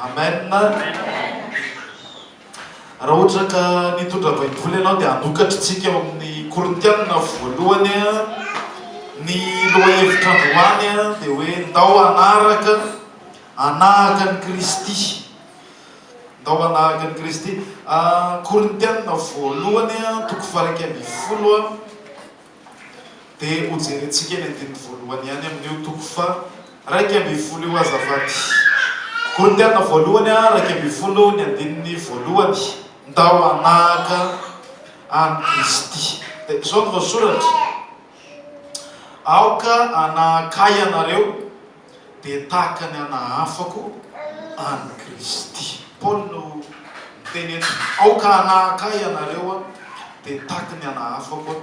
Amen! Raha ohatra ka nitondra baiboly ianao dia anokatry tsika ao amin'ny korintianina voalohany a, ny lohahevitra androany a dia hoe ndao hanaraka hanahaka an'i kristy, ndao hanahaka an'i kristy, korintianina voalohany a toko faha iraika ambin'ny folo a. dia ho jerentsika ny andininy voalohany ihany amin'io toko faha raika ambin'ny folo io azafady. Korintiana voalohany a, raika ambin'ny folo ny andininy voalohany, Ndao hanahaka an'i Kristy. Dia izao no voasoratra, Aoka hanahaka ahy ianareo, dia tahaka ny ana afako an'i Kristy. Paoly no miteny eto, Aoka hanahaka ahy ianareo, dia tahaka ny ana afako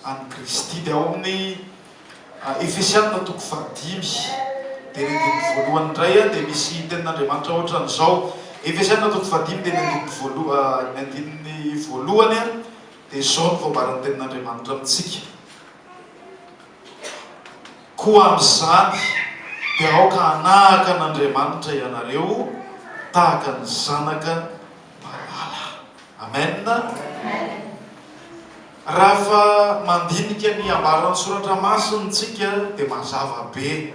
an'i Kristy. Dia ao amin'ny Efesiana toko fahadimy, dia ny andininy voalohany indray dia misy tenin'Andriamanitra ohatran'izao. Efesiana toko fahadimy, dia ny andininy voalohany, ny andininy voalohany dia izao no voambaran'ny tenin'Andriamanitra amintsika. Koa amin'izany dia aoka hanahaka an'Andriamanitra ianareo tahaka ny zanaka malala. Amen. Rafa mandinika ny ambaran'ny soratra masina tsika dia mazava be.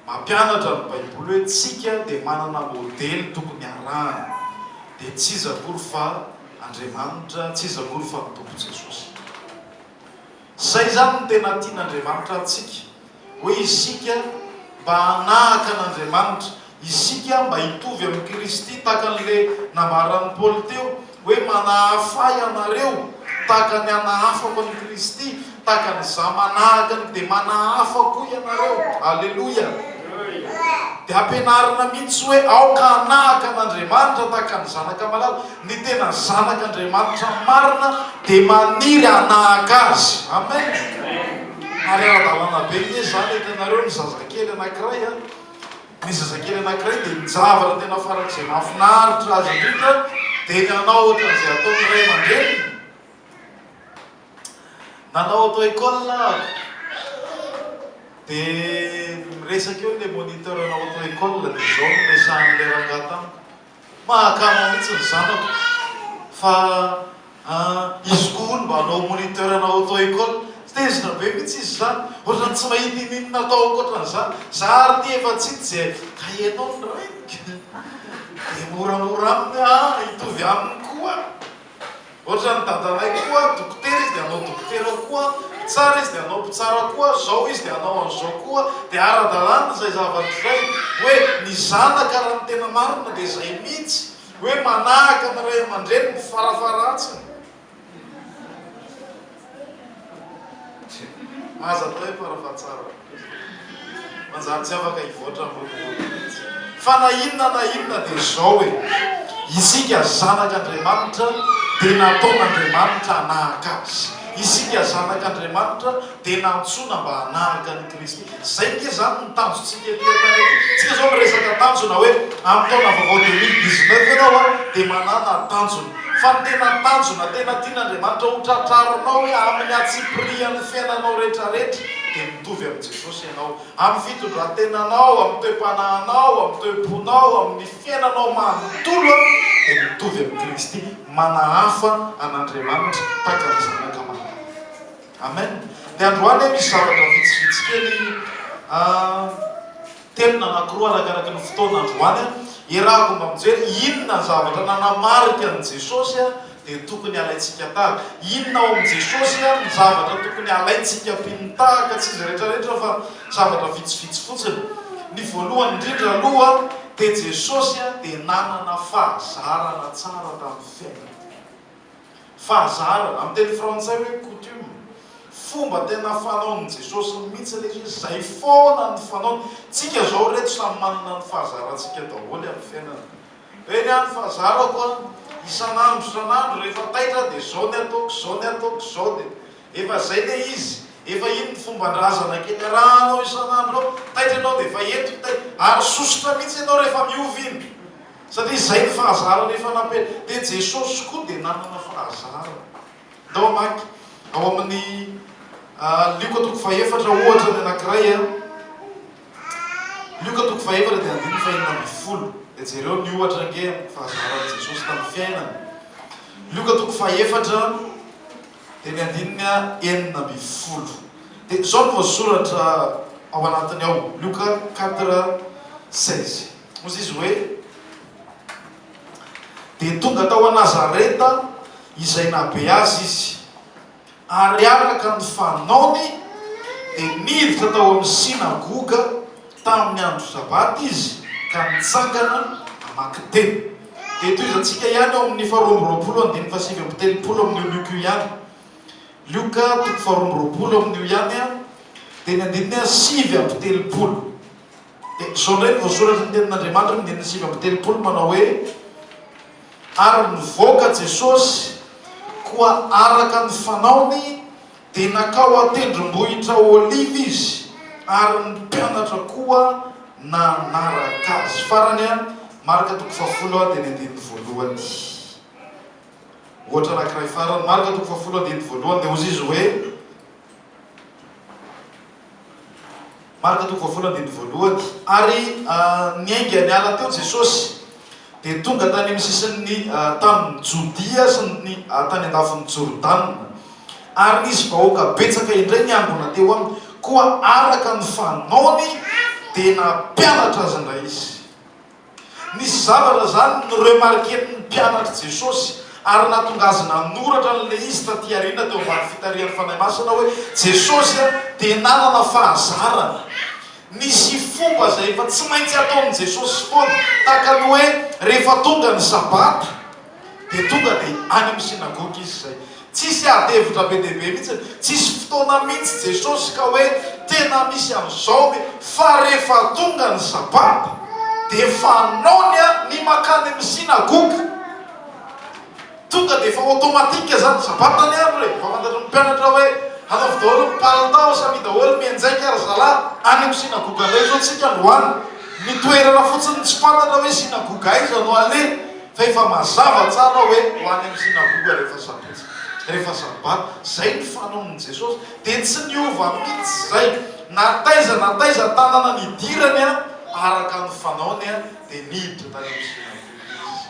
Mampianatra ny baiboly hoe tsika dia manana modely tokony harahana. Dia tsy iza akory fa Andriamanitra, tsy iza akory fa ny Tompo Jesosy. Izay izany no tena tian'Andriamanitra antsika, hoe isika mba hanahaka an'Andriamanitra, isika mba hitovy amin'i Kristy, tahaka an'ilay nambaran'i Paoly teo hoe manahafa ianareo tahaka ny anahafako an'i Kristy, tahaka an'izaho manahaka ny dia manahafa koa ianareo. Aleloia! Dia ampianarina mihitsy hoe aoka hanahaka an'Andriamanitra tahaka ny zanaka malala. Ny tena zanak' Andriamanitra marina dia maniry hanahaka Azy. Amen! Ary ara-dalàna be anie izany. Hitanareo ny zazakely anankiray an, ny zazakely anankiray dia ny zavatra tena farak'izay mahafinaritra azy indrindra dia ny hanao ohatran'izay ataon'ny ray aman-dreniny. Nanao auto-école aho, dia miresaka eo ilay moniteur-na auto-école, dia izao no niresahan'ilay rangahy tamiko. Mahakama mihitsy ny zanako fa an izy koa hono mba hanao moniteur ana auto école, tezitra be mihitsy izy izany, ohatrany tsy mahita ininona atao ankoatran'izany, za ary ity efa tsy hita izay ka ianao ny raiko dia moramora aminy an hitovy aminy koa. Ohatran'ny dadanay koa dokotera izy dia hanao dokotera koa, mpitsara izy dia hanao mpitsara koa, zao izy dia hanao an'izao koa, dia ara-dalàna izay zavatra izay. Hoe ny zanaka raha ny tena marina dia izay mihitsy, hoe manahaka ny ray aman-dreniny farafaharantsiny. Aza atao hoe fara fahatsarany mihitsy. Manjary tsy afaka hivoatra amin'ny rodorodona mihitsy. Fa na inona na inona dia izao e, isika zanak'Andriamanitra dia nataon'Andriamanitra hanahaka Azy. Isika zanak'Andriamanitra dia nantsoina mba hanahaka an'i Kristy. Izay ange izany no tanjontsika ety amin'ny planeta. Tsika izao miresaka tanjona hoe amin'ny taona vaovao deux mille dix neuf ianao a dia manana tanjona. Fa ny tena tanjona tena tian'Andriamanitra ho tratrarinao hoe amin'ny antsipirihan'ny fiainanao retraretra dia mitovy amin'i Jesosy ianao. Amin'ny fitondrantenanao, amin'ny toe-panahinao, amin'ny toe-ponao, amin'ny fiainanao manontolo a dia mitovy amin'i Kristy. Manahafa an'Andriamanitra tahaka ny zanaka manahafa. Amen! Dia androany misy zavatra vitsivitsy kely telo na anankiroa arakaraky ny fotoana androany iarahako mba mijery inona zavatra nanamarika an'i Jesosy dia tokony halaintsika tahaka. Inona ao amin'i Jesosy no zavatra tokony halaintsika mpino tahaka, tsy izy rehetrarehetra fa zavatra vitsivitsy fotsiny. Ny voalohany indrindra aloha dia Jesosy dia nanana fahazarana tsara tamin'ny fiainany. Fahazarana, amin'ny teny frantsay hoe coutume. Fomba tena fanaon'i Jesosy mihitsy ilay izy, izay foana no fanaony. Tsika izao ireto samy manana ny fahazarantsika daholo amin'ny fiainana. Hoe ny ahy ny fahazarako an, isan'andro isan'andro rehefa taitra aho dia izao ny ataoko, izao ny ataoko, izao dia efa izay ilay izy, efa iny ny fomban-drazana kely arahanao isan'andro ao, taitra ianao dia efa eto ny taitra, ary sosotra mihitsy ianao rehefa miova iny. Satria izay ny fahazarana efa nampiany. Dia Jesosy koa dia nanana fahazarana. Ndao hamaky ao amin'ny Lioka toko fahefatra ohatra ny anankiray a. Lioka toko fahefatra dia andininy fahenina ambin'ny folo. Dia jereo ny ohatra ange amin'ny fahazaran'i Jesosy tamin'ny fiainany. Lioka toko fahefatra dia ny andininy enina ambin'ny folo. Dia izao no voasoratra ao anatiny ao, Lioka quatre seize. Hoy izy hoe, Dia tonga tao Nazareta izay nahabe azy izy, ary araka ny fanaony dia niditra tao amin'ny sinagoga tamin'ny andro Sabata izy ka nitsangana namaky teny. Dia tohizantsika ihany ao amin'ny faharoa amby roapolo andininy fahasivy amby telopolo amin'io Lioka io ihany. Lioka toko faharoa amby roapolo amin'io ihany, dia ny andininy sivy amby telopolo. Dia izao indray no voasoratry ny Tenin'Andriamanitra amin'ny andininy sivy amby telopolo manao hoe, Ary nivoaka Jesosy, koa araka ny fanaony dia nankao an-tendrombohitra Oliva izy, ary ny mpianatra koa nanaraka azy. Farany an, Marka toko fahafolo an, dia ny andininy voalohany. Ohatra anankiray farany, Marka toko fahafolo andininy voalohany, dia hozy izy hoe, Marka toko fahavalo andininy voalohany, Ary niainga niala teo Jesosy, dia tonga tany amin'ny sisin'ny tanin'i Jodia sy ny tany andafin'i Jordana, ary nisy vahoaka betsaka indray niangona teo aminy, koa araka ny fanaony dia nampianatra azy indray izy. Nisy zavatra izany noremarquen'ny mpianatr'i Jesosy, ary nahatonga azy nanoratra an'ilay izy tatỳ aoriana teo ambany fitarihan'ny fanahy masina hoe, Jesosy dia nanana fahazarana. Nisy fomba izay efa tsy maintsy ataon'i Jesosy foana, tahaka ny hoe rehefa tonga ny Sabata, dia tonga dia any amin'ny synagoga izy izay. Tsisy ady hevitra be dia be mihitsy, tsisy fotoana mihitsy Jesosy ka hoe tena misy an'izao ve fa rehefa tonga ny sabata dia fanaony ny mankany amin'ny synagoga. Tonga dia efa automatique izany ny sabata ny andro e! Efa fantatry ny mpianatra hoe hanaovy daholo ny palitao, samia daholo mianjaika ry zalahy, any amin'ny synagoga indray izao isika androany. Ny toerana fotsiny tsy fantatra hoe synagoga aiza no aleha. Fa efa mazava tsara hoe ho any amin'ny synagoga rehefa sabotsy, rehefa sabata. Izay ny fanaon'i Jesosy. Dia tsy niova mihitsy izay. Na taiza na taiza tanana nidirany, araka ny fanaony, dia niditra tany amin'ny synagoga Izy.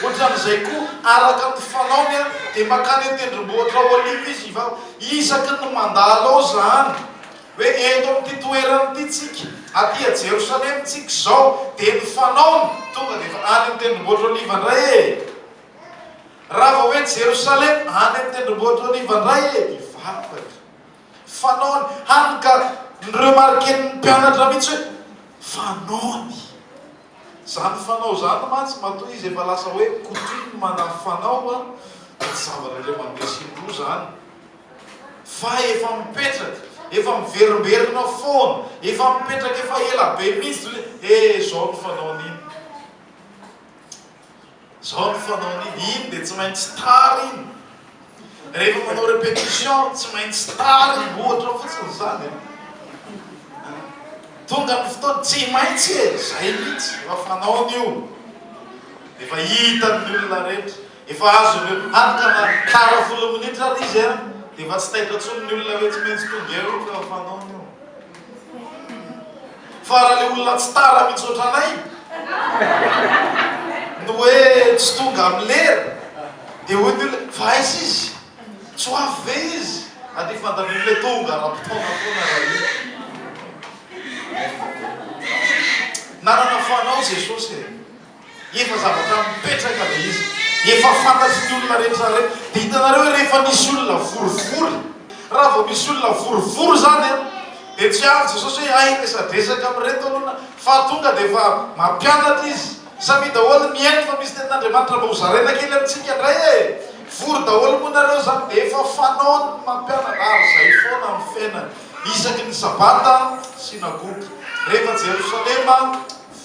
Ohatran'izay koa, araka ny fanaony, dia mankany an-tendrombohitra Oliva Izy hivarotra. Isaky ny mandalo ao izany. Hoe eto amin'ity toerana ity isika, aty a Jerosalema isika izao, dia ny fanaony, tonga dia efa any amin'ny Tendrombohitr' Oliva indray e! Raha vao hoe Jerosalema, any amin'ny Tendrombohitr' Oliva indray e! Ny vava e! Fanaony, hany ka ni-remarquer-n'ny mpianatra mihitsy hoe, fanaony. Izany fanao izany mantsy matoa izy efa lasa hoe coutume na fanao an, dia tsy zavatra indray mandeha sy indroa izany fa efa mipetraka, efa miverimberina foana, efa mipetraka efa ela be mihitsy, dia hoe eh izao ny fanaon'iny. Zao ny fanaony iny, iny dia tsy maintsy tara iny, rehefa manao repetition tsy maintsy tara iny, ohatra fotsiny izany e! Tonga ny fotoana, tsy maintsy e! Izay mihitsy, efa fanaony io, efa hitan'ny olona rehetra, efa azony eo, hany ka na tara folo minitra ary izy an, dia efa tsy taitra intsony ny olona hoe tsy maintsy tonga eo iny fa efa fanaony io. Fa raha le olona tsy tara mitsy otranay no hoe tsy tonga am lera de hoy ny olona fa aiza izy? tsy ho avy ve izy? ady fantatriny le tonga ara potoana fona ra io nanana fanao Jesosy e! Efa zavatra mipetraka ilay izy, efa fantatry ny olona rehetra ireny. Dia hitanareo hoe rehefa misy olona vorivory, raha vao misy olona vorivory izany an, dia tsy avy Jesosy hoe hay resadresaka amin'ireto aloha na, fa tonga dia efa mampianatra Izy. Samia daholo mihaino fa misy tenin'Andriamanitra mba hozaraina kely amintsika indray e! Vory daholo moa nareo izany dia efa fanaony ny mampianatra, ary izay foana amin'ny fiainany. Isaky ny sabata, synagoga. Rehefa Jerosalema.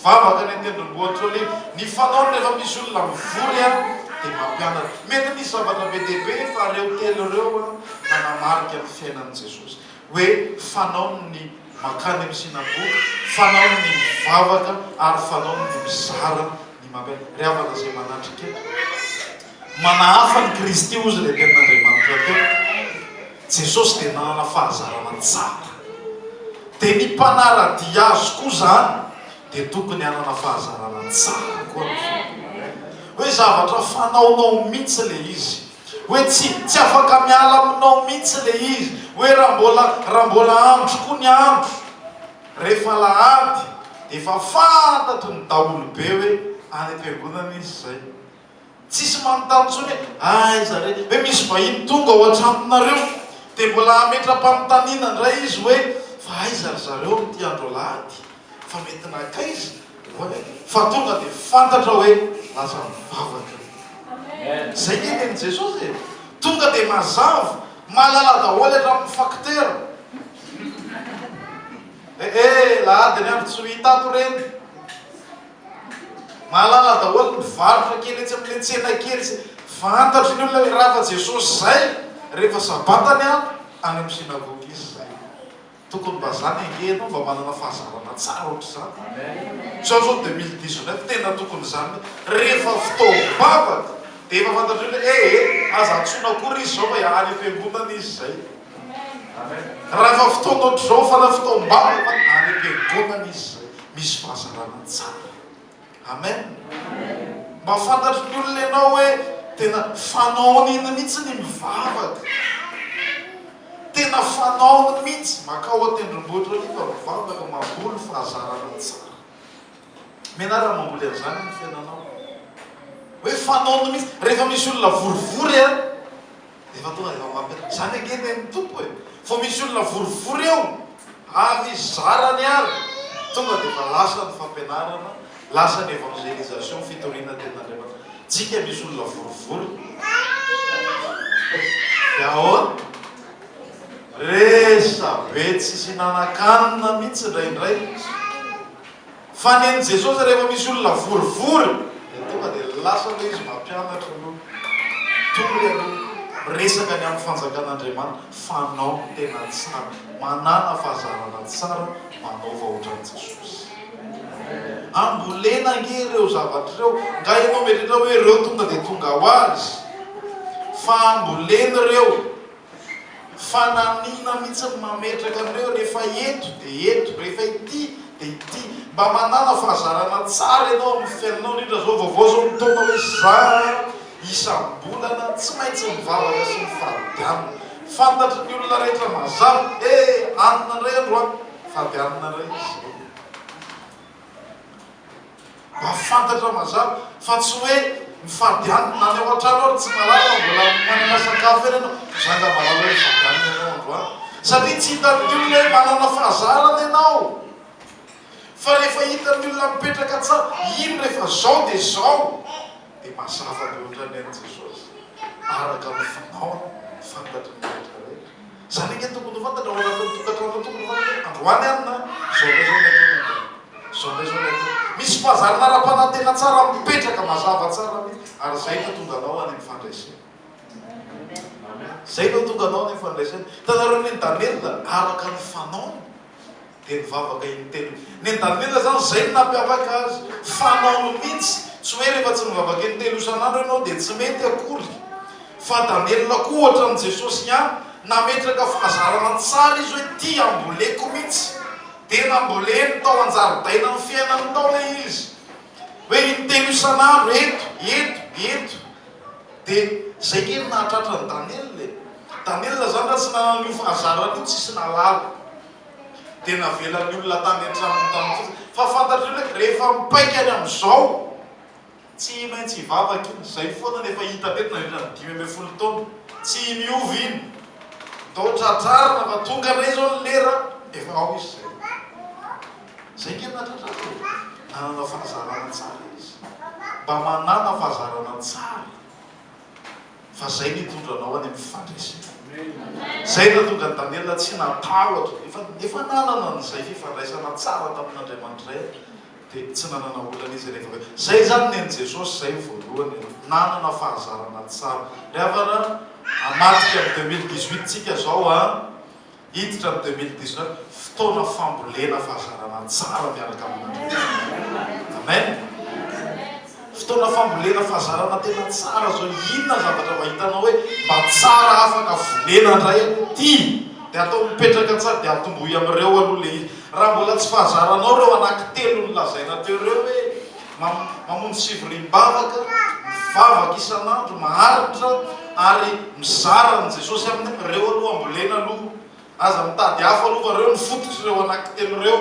Vavaka ny tendrombohitsoly, ny fanaony rehefa misy olona mivory a dia mampianatra. Mety nisy zavatra be dia be fa ireo telo ireo a nanamarika ny fiainan'i Jesosy hoe fanaony ny mankany amin'ny synagoga, fanaony ny mivavaka ary fanaony ny mizara ny mampianatra. Ry havana izay manatrika. Manahafa an'i Kristy hozy ilay Tenin'Andriamanitra teo. Jesosy dia nanana fahazarana tsara. Dia ny mpanara-dia Azy koa izany dia tokony hanana fahazarana tsara koa ny Fanahy. Hoe zavatra fanaonao mihitsy ilay izy. Hoe tsy, tsy afaka miala aminao mihitsy ilay izy. Hoe raha mbola, raha mbola andro koa ny andro, rehefa alahady, dia efa fantatry ny daholobe hoe any am-piangonana izy izay. Tsisy manontany intsony hoe aiza re? Hoe misy vahiny tonga ao an-tranonareo dia mbola hametra-panontaniana indray izy hoe fa aiza ry zareo amin'ity andro alahady? Fa mety nankaiza? Hoy aho fa tonga dia fantatra hoe lasa mivavaka. Izay ny henen'i Jesosy e! Tonga dia mazava, mahalala daholo hatramin'ny faktera. Eh eh, lahady ny andro tsy ho hita ato ireny. Mahalala daholo ny mpivarotra kely etsy amin'ilay tsena kely izay. Fantatry ny olona ilay rava Jesosy izay rehefa sabata ny andro any amin'ny synagoga izy izay. Tokony mba izany ange ianao mba manana fahazarana tsara ohatr'izany. Misaotra 2019 tena tokony izany rehefa fotoam-bavaka dia efa fantatr'olona hoe ee aza antsoina akory izy izao fa any am-piangonana izy izay. Raha efa fotoana ohatr'izao fara fotoam-bavaka, any am-piangonana izy misy fahazarana tsara. Amen. Mba fantatry ny olona ianao hoe tena fanaony iny mihitsy ny mivavaka. Tena fanaony mihitsy, makao an-tendrombohitra ary fa mivavaka, mamboly fahazarana tsara. Menara mamboly an'izany ny fiainanao. Hoe fanaony mihitsy, rehefa misy olona vorivory an, Efa tonga de efa mampiasa. Zany ange ve ny Tompo e! Vao misy olona vorivory eo avy zarany ary tonga de efa lasa ny fampianarana, lasa ny évangélisation, fitoriana tenin'Andriamanitra. Tsika misy olona vorivory de ahoana? Resa be tsisy hinanankanina mihitsy indraindray. Fa nen'i Jesosy rehefa misy olona vorivory dia tonga dia lasa aloha izy mampianatra aloha, mitory aloha, miresaka ny amin'ny fanjakan'Andriamanitra, fanao ny tena tsara, manàna fahazarana tsara, manaova ohatran'i Jesosy. Ambolena ange ireo zavatra ireo, nga ianao mieritreritra hoe ireo tonga dia tonga ho azy? Fa ambolena ireo. Fa nanina mihitsy ny mametraka an'ireo rehefa eto dia eto, rehefa ity dia ity. Mba manana fahazarana tsara ianao amin'ny fiainanao, indrindra izao vaovao izao mitaona hoe izaho isam-bolana tsy maintsy mivavaka sy mifadianana. Fantatry ny olona rehetra mazava, he anona indray andro aho, fadianana indray izy ireo. Mba fantatra mazava fa tsy hoe mifady any any ao antrano ary tsy malala fa mbola manana sakafo eny ianao. Zanga malala hoe mifady any ianao androany satria tsy hitan'ny olona hoe manana fahazarana ianao fa rehefa hitan'ny olona mipetraka tsara iny rehefa zao dia zao dia mazava be ohatran'ny an'i Jesosy araka ny fanaony fantatry ny rehetra rehetra. Izany ange tokony ho fantatra ao anatin'ny tokantrano fa tokony ho fantatra hoe androany alina izao na izao ilay taona dia izao na izao ilay taona. Misy fahazarana ara-panantena tsara mipetraka mazava tsara mihitsy ary izay no hatonga anao any amin'ny fandresena. Izay no hatonga anao any amin'ny fandresena. Hitanareo ny an'i Daniela araka ny fanaony. Dia nivavaka in-telo. Nendamena zany zay no nampiavaka azy. Fanaony mintsy. Tsy hoe rehefa tsy mivavaka in-telo isan'andro ianao dia tsy mety akory. Fandamelona koa ohatran'i Jesosy ihany. Nametraka fahazarana tsara izy hoe ty amboleko mintsy. Dia namboleny tao an-jaridainan'ny fiainany tao le izy. Hoe in-telo isan'andro eto, eto, eto. Dia zay nge no nahatratra an'i Daniela e. Daniela zany raha tsy nanana an'io fahazarana io tsisy nahalala. dia navelan'ny olona tany an-tranony tany fotsiny. Fa fantatrareo ve ka, rehefa mipaika any amin'izao, tsy maintsy hivavaka iny, izay foana no efa hita teto nandritra ny dimy ambin'ny folo taona, tsy miova iny. Atao tratrarina fa tonga indray izao ny lera, efa ao izy izay. Izay ange no nahatratrarina e! Nanana fahazarana tsara izy. Mba manana fahazarana tsara. fa zay nitondra anao any amin'ny fandresena. Zay nahatonga an'i Daniela tsy natahotra, efa efa nanana an'izay fifandraisana tsara tamin'Andriamanitra zay dia tsy nanana olana izy rehefa avy eo. Zay izany nen'i Jesosy zay ny voalohany, nanana fahazarana tsara. Ry havana an, hamadika amin'ny 2018 tsika zao an, Hiditra ny deux mille dix neuf, fotoana fambolena fahazaranà tsara miaraka amin'Andriamanitra. Amen! Fotoana fambolena fahazarana tena tsara zao, inona zavatra mba hitanao hoe mba tsara afaka vonena ndray aty dia atao mipetraka tsara dia atombohy amin'ireo aloha le izy. Raha mbola tsy fahazaranao ireo anankitelo nolazaina teo ireo hoe. mamonjy fivoriam-bavaka, mivavaka isan'andro, maharitra ary mizara an'i Jesosy aminy, reo aloha ambolena aloha, aza mitady hafa aloha fa reo ny fototry reo anaky telo reo,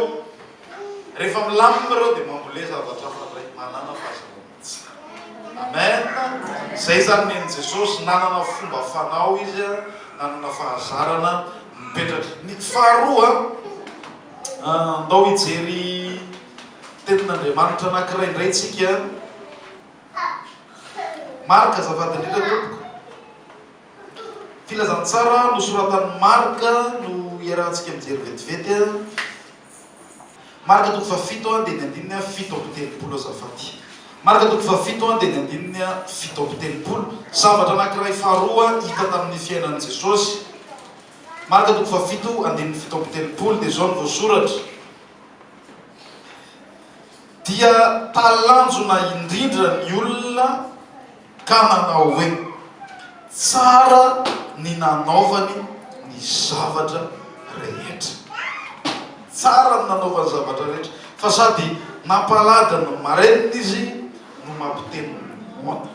rehefa milamina reo dia mambole zavatra hafa ndray, manana fahasalamana tsara. Amen! Zay zany nen'i Jesosy, nanana fomba fanao izy, nanana fahazarana mipetraka. Ny faharoa, ndao hijery. Tenin'Andriamanitra anankiray indray tsika an. Marka azafady indrindra tompoko. Filazantsara nosoratan'i Marka no iarahantsika mijery vetivety an. Marka toko fahafito andininy andininy an fito amby telopolo azafady. Marka toko fahafito andininy andininy an fito amby telopolo. Zavatra anankiray faharoa hita tamin'ny fiainan'i Jesosy. Marka toko fahafito andininy fito amby telopolo dia izao no voasoratra. dia talanjona indrindra ny olona ka nanao hoe, Tsara ny nanaovany ny zavatra rehetra. Tsara ny nanaovany ny zavatra rehetra. Fa sady nampalady ny marenina izy no mampiteny ny moana.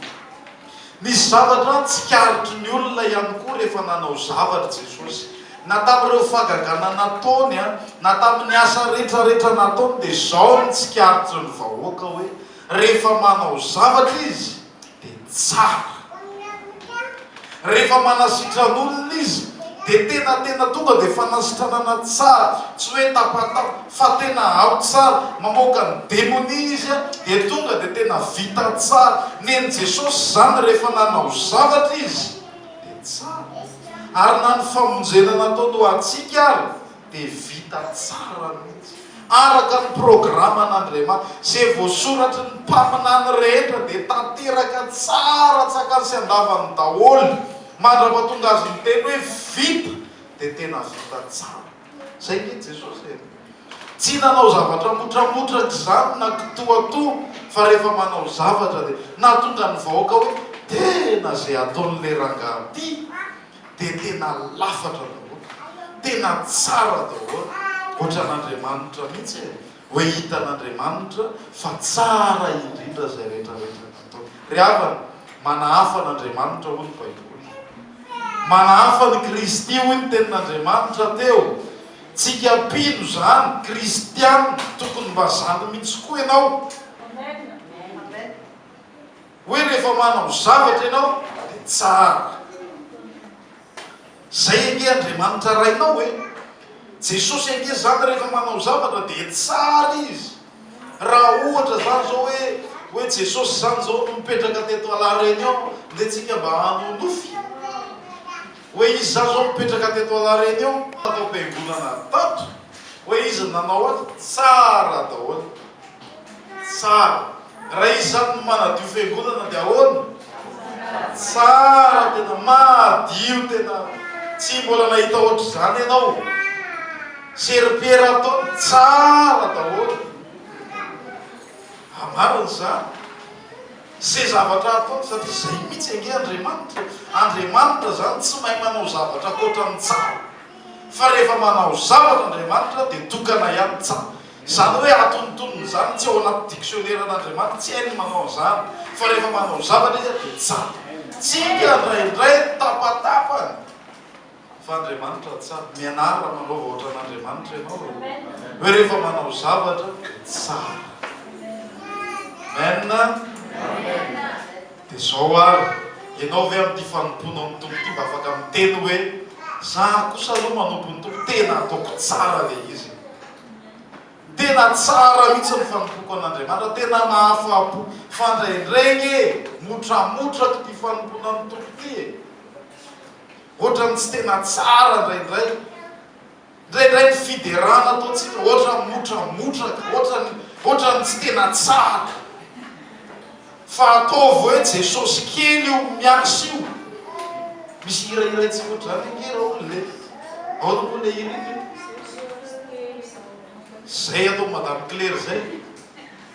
Nisy zavatra tsikaritry ny olona ihany koa rehefa nanao zavatra Jesosy. Na tamin'ireo fahagagana nataony, na tamin'ny asa rehetrarehetra nataony dia izao no tsikaritry ny vahoaka hoe, rehefa manao zavatra izy dia tsara. Rehefa manasitrana olona izy dia tena tena tonga dia fanasitranana tsara, tsy hoe tapatapaka. fa tena ao tsara, mamoaka ny demonia izy an, dia tonga dia tena vita tsara, nen'i Jesosy izany rehefa nanao zavatra izy dia tsara, ary na ny famonjena nataony ho antsika ary dia vita tsara mihitsy, araka ny programan'Andriamanitra, izay voasoratry ny mpaminany rehetra dia tanteraka tsara antsakany sy andavany daholo, mandrapatonga Azy miteny hoe vita dia tena vita tsara. Izay ange Jesosy e! Tsy nanao zavatra motramotra tr'izany na kitoatoa fa rehefa manao zavatra dia nahatonga ny vahoaka hoe tena izay ataon'ilay rangahy ity dia tena lafatra daholo, tena tsara daholo, ohatran'Andriamanitra mihitsy e! Hoe hitan'Andriamanitra fa tsara indrindra izay rehetra rehetra nataony. Ry havana, manahafa an'Andriamanitra hoy ny Baiboly. Manahafa an'i Kristy hoy ny Tenin'Andriamanitra teo. Tsika mpino izany, kristiana, tokony mba izany mihitsy koa ianao. Hoe rehefa manao zavatra ianao dia tsara. Izay ange Andriamanitra Rainao e! Jesosy ange izany rehefa manao zavatra dia tsara Izy. Raha ohatra izany izao hoe hoe Jesosy izany izao no mipetraka teto à la Réunion, ndeha tsika mba hanonofy. Hoe iza zao mipetraka teto Anareny eo natao piangonana tato? Hoe iza nanao ato? Tsara daholo. Tsara. Raha izy zany no manadio fiangonana dia ahoana? Tsara tena. Madio tena. Tsy mbola nahita ohatr'izany ianao. Serpiera ataony tsara daholo. Marina izany. Ze zavatra ataony satria zay mitsy ange Andriamanitra, Andriamanitra zany tsy mahay manao zavatra ankoatra ny tsara fa rehefa manao zavatra Andriamanitra de tokana ihany tsara zany hoe atonontonony zany tsy ao anaty dictionnaire n'Andriamanitra tsy hainy manao an'zany fa rehefa manao zavatra izy de tsara tsika ndraindray tapatapany Fa Andriamanitra tsara. Mianara manaova ohatran Andriamanitra ianao e. Hoe rehefa manao zavatra tsara. Amen a. Dia zao ary, ianao ve amin'ity fanompoanao ny Tompo ity mba afaka miteny hoe, za kosa aloha manompo ny Tompo tena ataoko tsara le izy e. Tena tsara mihitsy ny fanompoako an Andriamanitra, tena mahafapo. Fa ndraindray nge motramotraka ity fanompoana ny Tompo ity e. Ohatran'ny tsy tena tsara indraindray. Indraindray ny fiderana ataontsika ohatran'ny motramotraka, ohatran'ny, ohatran'ny tsy tena tsara. Fa ataovy hoe Jesosy kely io miasa io. Misy hira hiraintsika ohatr'izany ange Raoul e. Ahoana moa ilay hira iny? Izay ataon'i Madame Claire izay.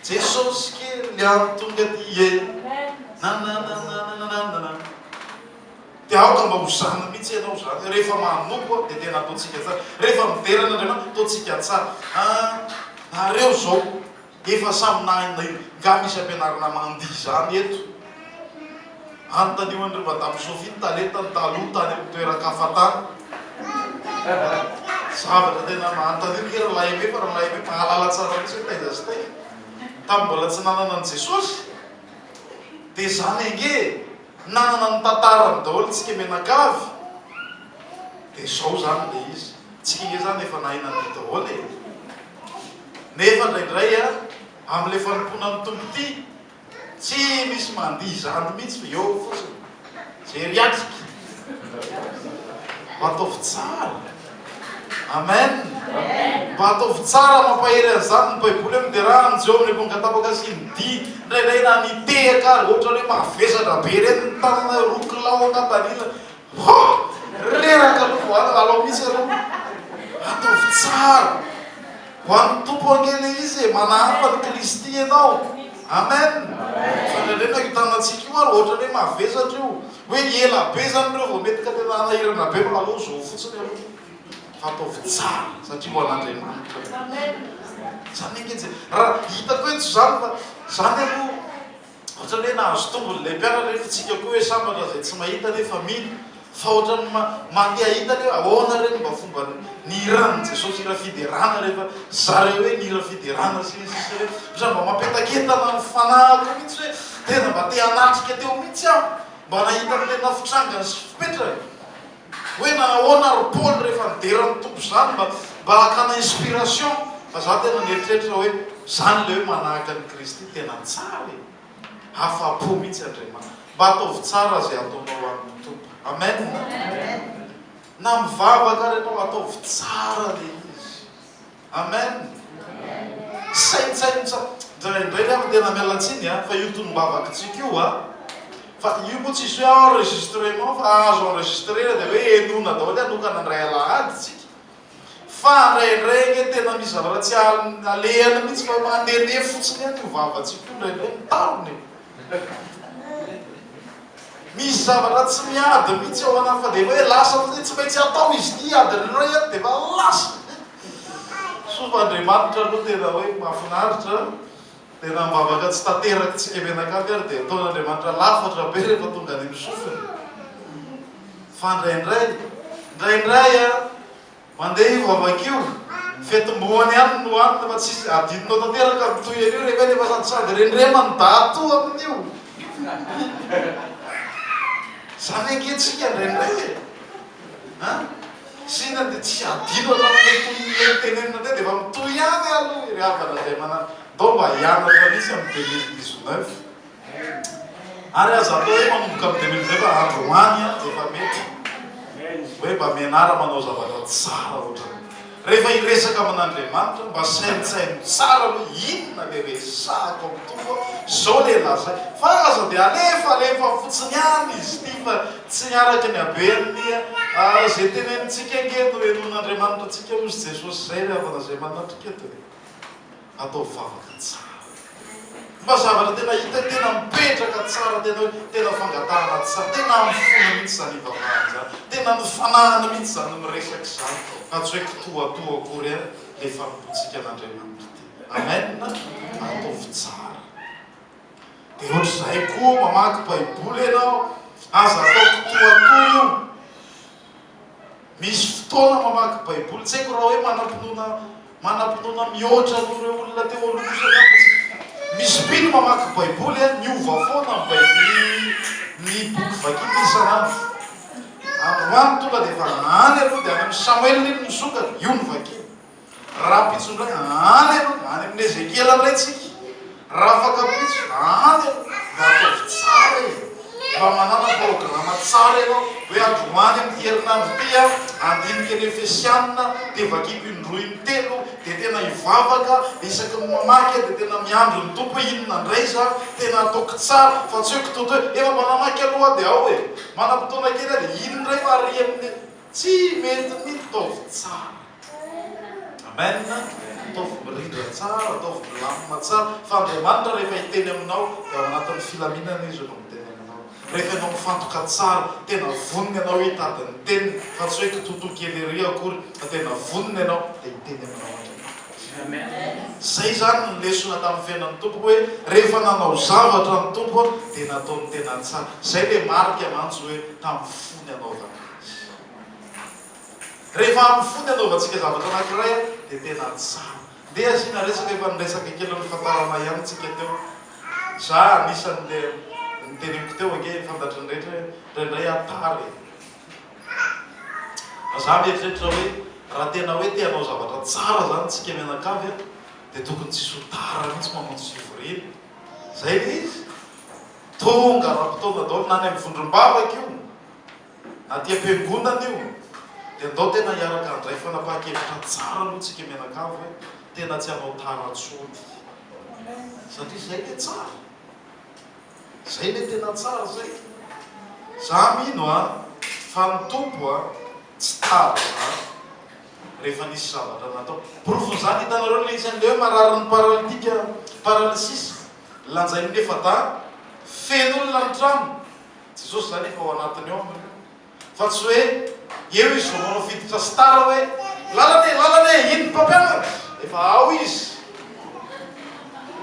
Jesosy kely antonga aty e. Nananananananana. Dia aoka mba ho zana mihitsy ianao izany. Rehefa manompo dia tena ataontsika tsara. Rehefa midera an'Andriamanitra, ataontsika tsara. Ah, nareo izao efa samy nahay io. Nga misy ampianarina mandihy izany eto? Anontanio an'ireo Madame Sophie ny talentany taloha tany amin'ny toeran-kafa tany. Zavatra tena manontaniana ve ry lahy aime fa ry lahy aime mahalala tsara mihitsy hoe taiza sy taiza. Tamin'ny mbola tsy nanana an'i Jesosy. Dia izany ange e! Nanana ny tantarany daholo tsika mianakavy dia zao zany le izy tsika nge zany efa nahay nadio daholo e! Nefa indraindray a am le fanompoana ny Tompo ty tsy misy mandihy izany mitsy fa eo fotsiny! Jery atrika! Ataovy tsara! Amen! Mba ataovy tsara mampahery an'izany ny Baiboly hoe miderà amin'ny Jeho amin'ny amponga tapaka sy ny dihy. Indraindray na ny tehaka ary, ohatra hoe mavesatra be ireny ny tanana, roa kilao an-kampanila. Hoo! Reraka aloha vao alina, alao mihitsy ianao. Ataovy tsara. Ho an'ny Tompo ange ilay izy e, manahafa an'i Kristy ianao. Amen! Fa indraindray na io tanantsika io ary, ohatra hoe mavesatra io. Hoe ela be zany reo vao mety ka tena hanahirana be fa alou zao fotsiny aloha fa ataovy tsara satria ho an'Andriamanitra zany zany ange tsy ra hitako hoe tsy zany fa zany aloha ohatrany hoe nahazo tombony lay mpianatra nefa itsika koa hoe sambatra zay tsy mahita nefa mino fa ohatrany ma mate ahita le hoe ahoana re ny mba fomba ny hiran'i Jesosy hira fiderana refa zare hoe ny hira fiderana sy ny sisa hoe ohatrany mba mapetaketana ny fanahiko mitsy hoe Tena mba te hanatrika teo mihitsy aho mba nahita ny tena fitrangany sy fipetrany hoe nanahoana ry Paoly rehefa nidera ny Tompo izany mba mba hakana inspiration fa za tena nieritreritra hoe izany ilay hoe manahaka an'i Kristy tena tsara e! afa-po mihitsy Andriamanitra mba ataovy tsara izay ataonao ho an'ny Tompo Amen na mivavaka ary ianao ataovy tsara ilay izy Amen! Saintsaino tsara. Indraindray aho tena miala tsiny an, fa io tonom-bavakitsika io an, fa io moa tsisy hoe enregistrement fa azo enregistrer dia hoe henoina daholo hanokana indray alahady tsika. Fa indraindray anie tena misy zavatra tsy alehany mihitsy fa mandehandeha fotsiny ihany io vavantsika io indraindray mitarona e. Misy zavatra tsy miady mihitsy ao anao fa dia hoe lasa fotsiny, tsy maintsy atao izy ity adin'ny iray eo dia efa lasa. Soa fa Andriamanitra aloha tena hoe mahafinaritra dia na mivavaka tsy tanterakintsika mianakavy ary dia ataon'Andriamanitra lafatra be rehefa tonga any amin'ny sofiny. Fa indraindray, indraindray an, Mandeha io vavaka io, ny fetim-boany ihany no hanina fa tsy adinonao tanteraka ny toy an'io rehefa eny fa sady sady rendrema ny dato amin'io. Zany ange tsika indraindray e! An! Sina dia tsy adino hatramin'ilay tonon'ilay nitenenina teo dia efa mitohy ihany aloha ry havana izay manan-dao mba hianatra mihitsy amin'ny deux mille dix-neuf. Ary aza atao hoe manomboka amin'ny deux mille vingt fa androany efa mety hoe mba mianara manao zavatra tsara ohatran'ny rehefa hiresaka amin'Andriamanitra mba saintsaino tsara aloha inona le resahako amin'ny Tompo zao le lazaiko fa aza de alefa alefa fotsiny any izy ity fa tsy araka ny haben'ny ze tenenintsika ange no henoin'Andriamanitra antsika hozy Jesosy zay ry havana zay manatrika eto e. Ataovy vavaka tsara. Mba zavatra tena hita tena mipetraka tsara tena hoe tena fangatahana tsara. Tena amin'ny fona mihitsy izany hivavahana izany. Tena amin'ny fananana mihitsy izany miresaka izany fa tsy hoe kitoatoa akory an le fanompoantsika an'Andriamanitra ity. Amen a! Ataovy tsara. Dia ohatr'izay koa mamaky Baiboly ianao, aza atao kitoatoa io. Misy fotoana mamaky baiboly, tsy haiko raha hoe manam-pinoana manam-pinoana mihoatra noho ireo olona teo aloha kosa angamba izy. Misy mpino mamaky baiboly an, miova foana ny baiboly ny ny boky vakiny isan'andro. Androany tonga dia efa any aloha dia any amin'ny samoela iny misokatra, io no vakiny. Rahampitso indray, any aloha, any amin'i Ezekiela indray tsika, Rafakampitso, any aloha, mba ataovy tsara e! Mba manana programa tsara ianao, hoe androany amin'ity herinandro ity aho handinika ny Efesiana, dia vakiko indroa intelo, dia tena hivavaka, dia isaky ny mamaky aho dia tena miandry ny Tompo hoe inona indray izany, tena hataoko tsara, fa tsy hoe kitoto hoe, efa mba namaky aloha aho dia ao e! Manam-potoana kely aho dia iny indray varian'ny. Tsy mety mihitsy, ataovy tsara. Amen, ataovy mirindra tsara, ataovy milamina tsara, fa Andriamanitra rehefa hiteny aminao dia ao anatin'ny filaminana Izy no miteny aminao, rehefa ianao mifantoka tsara, tena vonona ianao hitady ny teniny fa tsy hoe kitoto kely ery akory fa tena vonona ianao dia hiteny aminao Andriamanitra. Izay izany ny lesona tamin'ny fiainan'ny Tompo hoe rehefa nanao zavatra ny Tompo dia nataony tena tsara, izay ilay marika mantsy hoe tamin'ny fo ny anaovana azy. Rehefa amin'ny fo ny anaovantsika zavatra anankiray dia tena tsara. Ndeha asiana resaka efa niresaka kely nifantarana ihany isika teo. Za anisan'le niteneniko teo ange efa fantatry ny rehetra hoe indraindray aho tara e. Fa za mieritreritra hoe raha tena hoe te hanao zavatra tsara zany tsika mianakavy a dia tokony tsisy ho tara mihitsy mamonjy fivoriana. Zay le izy. Tonga ara-potoana daholo na any amin'ny vondrom-bavaka io. Na dia fiangonana io dia ndao tena hiaraka handray fanapahan-kevitra tsara aloha tsika mianakavy hoe tena tsy hanao tara tsony satria zay le tsara zay le tena tsara zay za mino a fa ny tompo a tsy tara zany rehefa nisy zavatra natao porofon'izany hitanareo le isan'ny le hoe marary ny paralitika paralysis lanjain'ny efa-dahy feno olona ny trano Jesosy izany efa ao anatiny ao nareo fa tsy hoe eo izy vao manao fiditra star hoe lalana e lalana e iny ny mpampianatra efa ao izy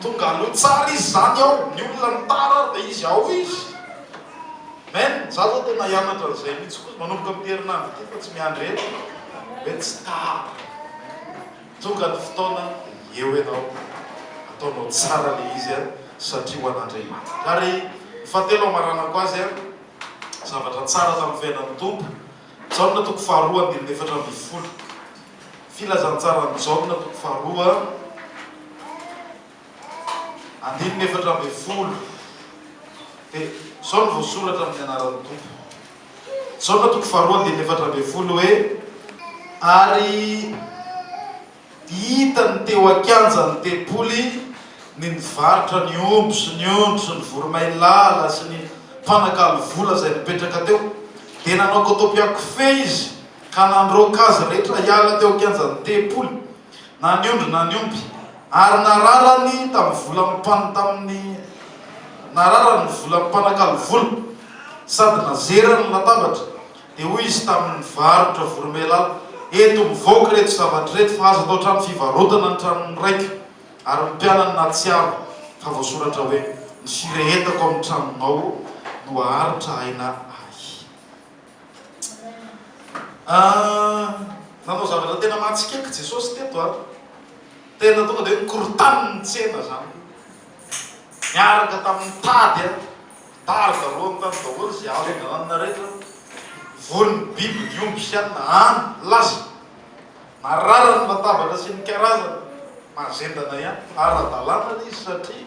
tonga aloha tsara izy zany ao ny olona ny tara ary dia izy ao izy men za zao tena hianatra an'izay mitsy koa manomboka amty herinandro ity fa tsy miandry ela hoe tsy tara Tonga ny fotoana eo ianao ataonao tsara le izy a satria ho an'Andriamanitra ary ny fahatelo hamaranako azy a zavatra tsara tamin'ny fiainan'ny Tompo Jaona toko faharoa andininy efatra ambin'ny folo filazantsaran'i Jaona toko faharoa Andininy efatra ambin'ny folo dia izao no voasoratra amin'ny anaran'ny Tompo. Jaona toko faharoa andininy efatra ambin'ny folo hoe, Ary hitany teo an-kianjan'ny tempoly ny nivarotra ny omby sy ny ondry sy ny voromailala sy ny mpanakalo vola izay nipetraka teo. Dia nanao kotopiakofehy izy ka nandroaka azy rehetra hiala teo an-kianjan'ny tempoly na ny ondry na ny omby, ary nararany tamin'ny vola mpan tamin'ny nararany ny vola mpanakalo vola, sady nazerany ny latabatra, dia hoy izy tamin'ny mpivarotra voromailala, Eto, mivoaka ireto zavatra ireto, fa aza atao trano fivarotana ny tranon'ny raiko ary ny mpianany nahatsiaro fa voasoratra hoe, Ny firehetako amin'ny tranonao no haharitra aina ahy. Nanao zavatra tena mahatsikaiky Jesosy teto an! Tena tonga dia hoe nikorontana ny tsena izany. Niaraka tamin'ny tady an, mpitarika roa tany daholo izay azo angalanina rehetra. Voan'ny biby ny omby sy anona an! Lasa. Marary ny latabatra sy ny karazany. Mahazendana ihany. Ara-dalàna le izy satria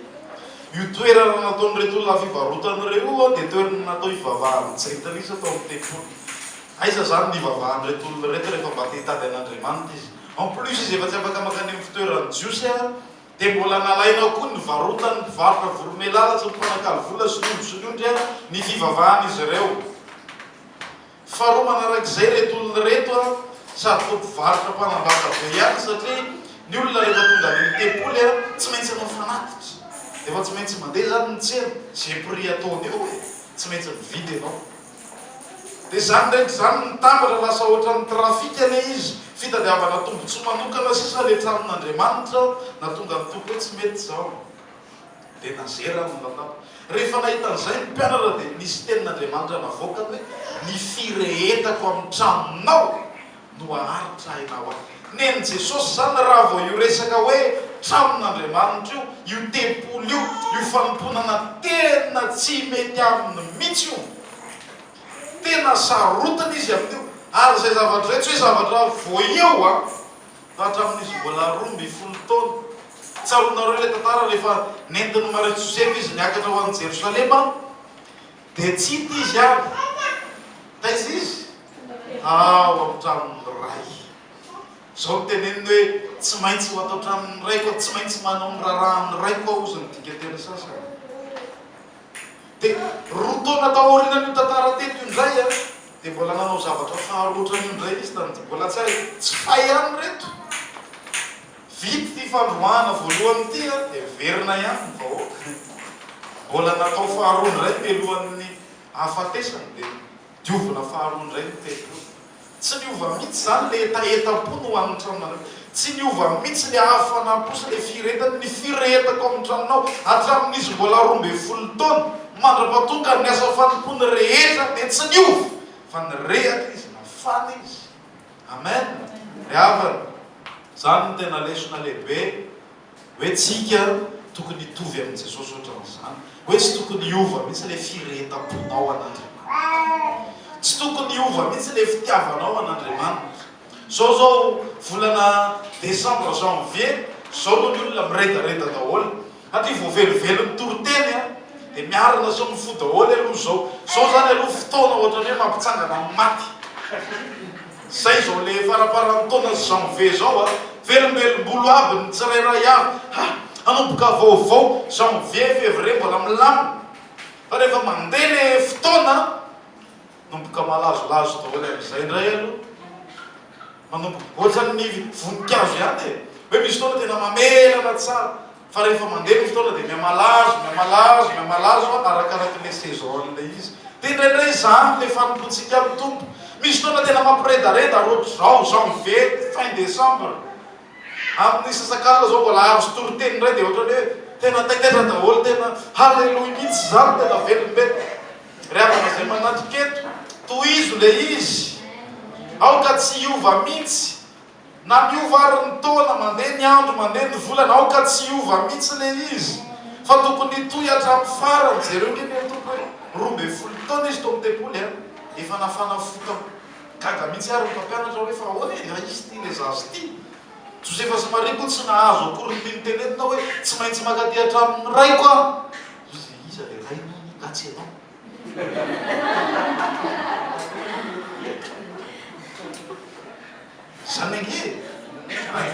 io toerana nataon'ireto olona fivarotana ireo io dia toerana natao hivavahan'ny jentilisa tao amin'ny tempoly. Aiza izany ny hivavahan'ireto olona ireto rehefa mba te hitady an'Andriamanitra izy. En plus izy efa tsy afaka mankany amin'ny fitoeran'ny Jiosy ary dia mbola nalaina ao koa ny varotan'ny mpivarotra voromelala sy ny mpanakalo vola sy ny omby sy ny ondry ary ny fivavahan'izy ireo. Faharoa manarak'izay ireto olona ireto sady koa mpivarotra mpanambaka be ihany satria ny olona rehefa tonga any amin'ny tempoly tsy maintsy hanao fanatitra efa tsy maintsy mandeha izany ny tsena ze prix ataony eo e tsy maintsy mividy ianao dia izany ndraindra izany mitambatra lasa ohatran'ny trafic anie izy fitadiavana tombotsoa manokana sisa le tranon'Andriamanitra na tonga ny tompo hoe tsy mety izao Dia nazery aho ny lalàna. Rehefa nahita an'izay ny mpianatra dia nisy tenin'Andriamanitra navoakany hoe, Ny firehetako amin'ny tranonao no haharitra aina ho ahy. Nen'i Jesosy izany raha vao io resaka hoe tranon'Andriamanitra io, io tempoly io, io fanompoanana tena tsy mety aminy mihitsy io. Tena sarotiny izy amin'io. Ary izay zavatra izay tsy hoe zavatra voaio an! Hatramin'izy mbola roa ambin'ny folo taona. Tsaroanareo ilay tantara rehefa nentin'i Maria Josefa izy niakatra ho any Jerosalema dia tsy hita izy any. Taiza izy? Ao amin'ny tranon'ny Ray. Izao no teneniny hoe, tsy maintsy ho ato an-tranon'ny Raiko aho, tsy maintsy manao ny raharahan'ny Raiko aho, hozy ny dikanteny sasany. Dia roa taona taorianan'io tantara teto io indray, Dia mbola nanao zavatra faharoa ohatran'io indray izy tamin'ity mbola tsy hay tsy fay ihany reto. Vita ity fandroahana voalohany ity a dia miverina ihany ny vahoaka. Mbola natao faharoa indray mialohan'ny hahafatesany dia diovina faharoa indray ny teny io. Tsy niova mihitsy izany le hetahetam-po no ho an'ny tranonareo. Tsy niova mitsy le avo fanampo sy le firehetany ny firehetako amin'ny tranonao hatramin'izy mbola roa ambin'ny folo taona mandra-patonga ny asa fanompoany rehetra dia tsy niova fa nirehaka izy nafana izy amen ry havana zany no tena lesona lehibe Hoe tsika tokony hitovy amin'i Jesosy ohatran'izany. Hoe tsy tokony hiova mihitsy ilay firehetam-ponao an'Andriamanitra. Tsy tokony hiova mihitsy ilay fitiavanao an'Andriamanitra. Izao izao volana desambra, janvier, izao no ny olona miredareda daholo. Aty vao velively mitoriteny an! Dia miarina sy mifoha daholo aloha izao. Izao izany aloha fotoana ohatran'ny hoe mampitsangana amin'ny maty. Izay izao le faraparan'ny taona janvier izao a! Velombelombolo aby ny tsirairay avy ha! Hanomboka vaovao janvier, février mbola milamina fa rehefa mandeha le fotoana manomboka malazolazo daholo amin'izay indray aloha manomboka ohatran'ny voninkazo ihany e! hoe misy fotoana tena mamelana tsara Fa rehefa mandeha ny fotoana dia mihamalazo, mihamalazo, mihamalazo arakaraky ilay saison ilay izy. Dia indraindray izany ilay fanompoantsika amin'ny Tompo. Misy fotoana tena mampiredareda hoatra izao, janvier, fin décembre. Amin'ny sasakalina izao mbola azo toriteny indray dia hoatra ny hoe tena taitaitra daholo, tena haleloia mihitsy izany, tena velombelona. Ry havana izay manatrika eto, tohizo ilay izy, aoka tsy hiova mihitsy. Na miova ary ny taona, mandeha ny andro, mandeha ny volana, aoka tsy hiova mihitsy le izy fa tokony hitohy hatramin'ny farany, jereo nge le Tompo hoe roa ambin'ny folo taona izy tao amin'ny tempoly an! efa nafana fo tao, gaga mihitsy ary ny mpampianatra hoe fa ahoana e, na izy ity le zaza ity? Josefa sy Maria koa tsy nahazo akory ny tiany tenenina hoe tsy maintsy mankaty hatramin'ny raiko aho, iza iza le rainao anie ka tsy ianao? Zany ange e!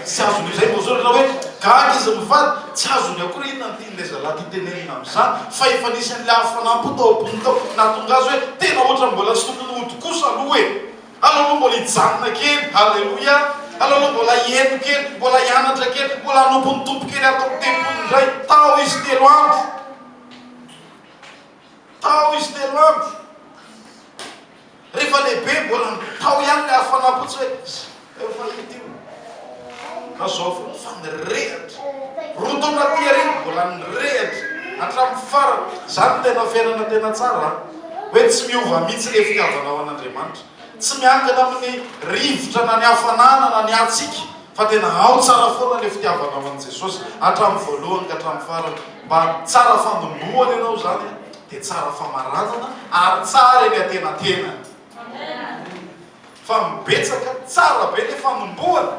Tsy azony izay vao zao raha hoe gaga izy mivady, tsy azony akory inona ny tian'ilay zalahy tia tenenina amin'izany fa efa nisy an'ilay hafanam-po tao am-pony tao nahatonga azy hoe tena ohatran'ny mbola tsy tokony hody kosa aloha e! Aleo aloha mbola hijanona kely, haleloia, aleo aloha mbola hieno kely, mbola hianatra kely, mbola hanompo ny Tompo kely ato amin'ny tempoly indray, tao izy telo andro. Tao izy telo andro. Rehefa lehibe mbola tao ihany le hafanam-potsy hoe efa hita io. Ka zao foana fa nirehatra. Roa taona aty aoriana mbola nirehatra hatramin'ny farany. Zany tena fiainana tena tsara a! Hoe tsy miova mihitsy le fitiavanao an'Andriamanitra. Tsy miankina amin'ny rivotra na ny hafanana na ny hatsiaka. Fa tena ao tsara foana le fitiavanao an'i Jesosy hatramin'ny voalohany ka hatramin'ny farany. Mba tsara fanombohana ianao zany dia tsara famaranana ary tsara eny antenatenany. Fa mibetsaka tsara be le fanombohana.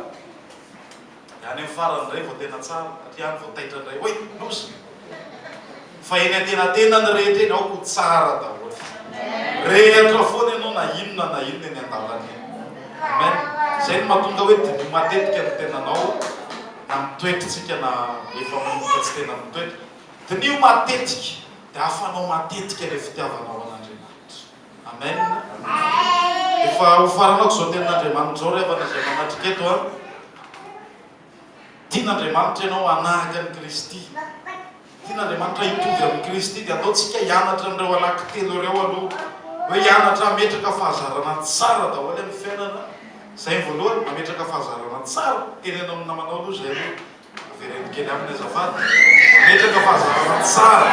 Dia any amin'ny farany indray vao tena tsara. Aty ihany vao taitra indray. Oy! Loza! Fa eny antenantena ny rehetra eny aoko ho tsara daholo. Rehatra foana ianao na inona na inona eny andalana eny. Amen. Izay no mahatonga hoe diniho matetika ny tenanao na ny toetrtsika na efa mody fa tsy tena mitoetra. Diniho matetika dia afanao matetika ilay fitiavanao an'Andriamanitra. Amen. Efa hofaranako izao tenin'Andriamanitra izao ry havana izay manatrika eto an. Tian'Andriamanitra ianao hanahaka an'i Kristy. Tian'Andriamanitra hitovy amin'i Kristy. Dia aleontsika hianatra an'ireo anankitelo ireo aloha. Hoe hianatra hametraka fahazarana tsara daholo amin'ny fiainana. Izay ny voalohany, mametraka fahazarana tsara. Teneno amin'ny namanao aloha izay hoe. Avereno kely aminy azafady. Mametraka fahazarana tsara.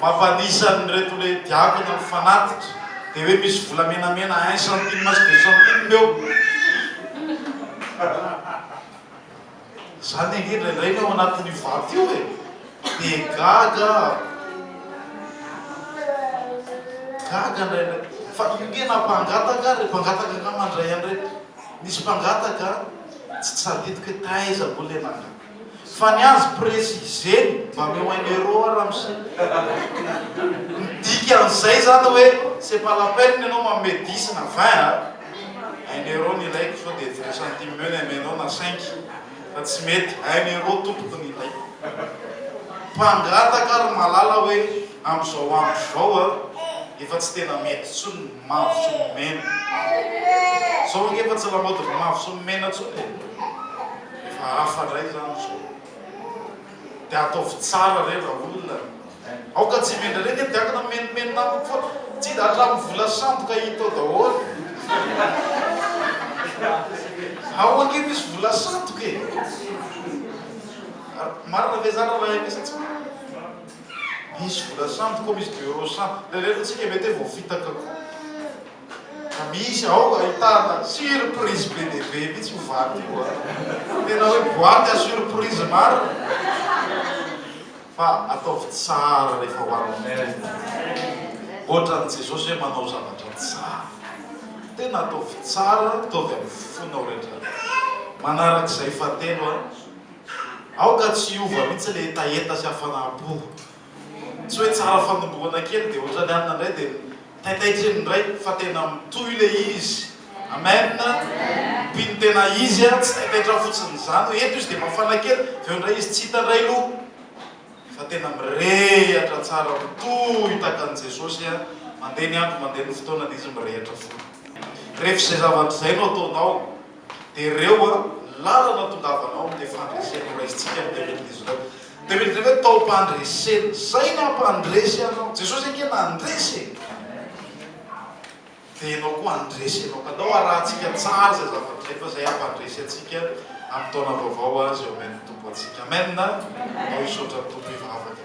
Mavanisa an'ireto le diavina mifanatitra de hoe misy vola menamena un centime sy deux centimes eo. Zany ange indraindray ny ao anatin'io vato io e! De gaga aho. Gaga indraindray. Fa io nge na mpangataka ary mpangataka angamba ndray an'ireto. Misy mpangataka tsy tsadidiko hoe taiza moa le nangataka. Fa ny azy presy izeny mba meo un euro a ramose ny dikan'izay zany hoe c'est pas la peine ianao manome dix na vingt a! un euro ny ilaiko sao dia vingt centimes eo ny amenao na cinq fa tsy mety un euro tompoko ny ilaiko mpangataka ry malala hoe amzao andro zao a efa tsy tena mety tsony ny mavo sy ny mena zao ange efa tsy lamaody ry mavo sy ny mena tsony e! Efa hafa ndray zany zao. De ataovy tsara re raolona e. Aoka tsy mendry re nge diakona mimenomeno namako fa tsy da hatramin'ny vola sandoka hita ao daholo. Ao ange misy vola sandoka e. Marina ve zany raha ms tsy marina. Misy vola sandoka ao misy deux euros sandoka. Rereno tsika mety hoe voafitaka koa. Misy ao ahitana surprise be dia be mihitsy io vato io a! Tena hoe boite à surprise marina e! Fa ataovy tsara rehefa ho an'ny maire e! Ohatran'i Jesosy hoe manao zavatra tsara. Tena ataovy tsara, ataovy amin'ny fonao rehetra. Manarak'izay fahatelo a! Aoka tsy hiova mihitsy ilay hetaheta sy hafanam-po. Tsy hoe tsara fanongorana kely dia otrany hanina indray dia taitaitrin indray fa tena mitohy le izy Amen mpino tena izy a tsy taitaitra fotsiny zany hoe eto izy dia mafana kely avy eo indray izy tsy hita indray lo fa tena mirehatra tsara mitohy tahaka an'i Jesosy a mandeha ny andro mandeha ny fotoana dia izy mirehatra foana rehefa izay zavatra izay no ataonao dia reo a lalana tongavanao am le fandresena ho raisintsika am deux mille dix neuf deux mille dix neuf taom-pandresena zay nampandresy anao Jesosy ange nandresy e dia enao koa andresy enao ka andao arahantsika tsara zay zavatra zay fa zay hampandresy antsika am taona vaovao azy eo amin ny Tompo antsika amen andao hisaotra ny Tompo hivavaka